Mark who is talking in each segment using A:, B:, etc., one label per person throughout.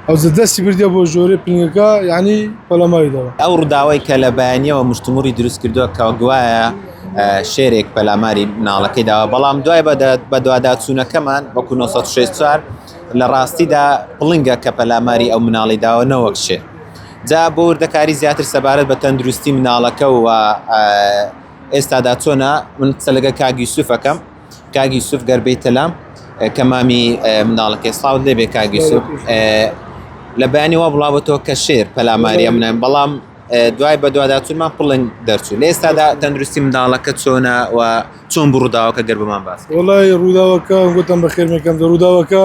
A: هەوزە دەستی بردیە بۆ ژۆرێ پنگەکە یعنی پەلەماری دەوە. ئەو ڕووداوەی کە لە
B: بەیانیەوە مشتومڕی دروست کردووە کە گوایە شێرێک پەلاماری مناڵەکەی داوە بەڵام دوای بەدواداچوونەکەمان وەکو 1964 لە ڕاستیدا پڵنگە کە پەلاماری ئەو مناڵی داوە نەوەک شێر جا بۆ وردەکاری زیاتر سەبارەت بە تەندروستی مناڵەکە و ئێستادا چۆنا من قسە لەگە کاگیسوفەکەم کاک یوسف گەر بیتە لام کە مامی مناڵەکەی ساوت لێبێ کاک یوسف لە بەیانی وا بڵاوەتەوە کە شێر پەلاماریە منە بەڵام دوای بە دوواداچونمان پڵنگ دەرچوو لە ئێستادا تەندروستی منداڵەکە چۆنە و چۆن بڕووداوەکە گەر بمان باس وڵی ڕووداوەکە
A: گوتم بە خێرمەکەم دە ڕووداوەکە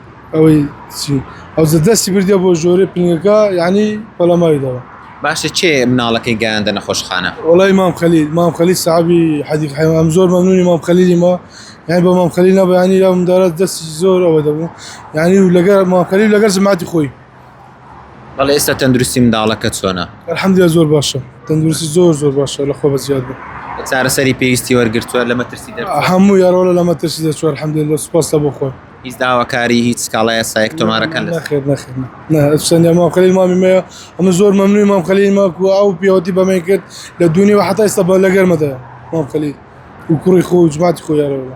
A: ئەوەی چی ئەو زە دەستی بردیە بۆ ژۆرێ پنگەکە یعنی پەلاماری داوە. باشە کێ
B: مناڵەکەی گەیاندە نەخۆشخانە؟ وەڵای مام خەلیل
A: مام خەلیل سەحابی حەدیق حەیوان ئەم زۆر مەمنونی مام خەلیلی ما یانی بە مام خەلیل نەبا یانی ئەو مندارە دەستی زۆر ئەوە دەبوو یانی و لەگەر مام خەلیل و لەگەر جەماتی خۆی
B: بەڵێ ئێستا تەندروستی منداڵەکە چۆنە؟ الحمدللە زۆر باشە
A: تەندروستی زۆر زۆر باشە لە خۆ بەزیاد بوو. چارەسەری پێویستی
B: وەرگرتووە لە مەترسی دەرچووە؟ هەمووی ئەرۆڵە لە مەترسی
A: دەرچووە الحمدللە سوپاس لە بۆ خوا. هیچ داواکاری
B: هیچ سکاڵای یاسایەک تۆمارەکەن لەسەر؟ نەخێر نەخێر نە نە
A: سەنیا مام خەلیل مامی مەیە ئەمە زۆر مەمنوی مام خەلیل ماکو ئەو پیاوەتی بەمەی کرد لە دوونی و حتا ئێستا بە لەگەرمەدایە مام خەلیل و کوڕی خۆ و جماتی خۆ یارەوەلا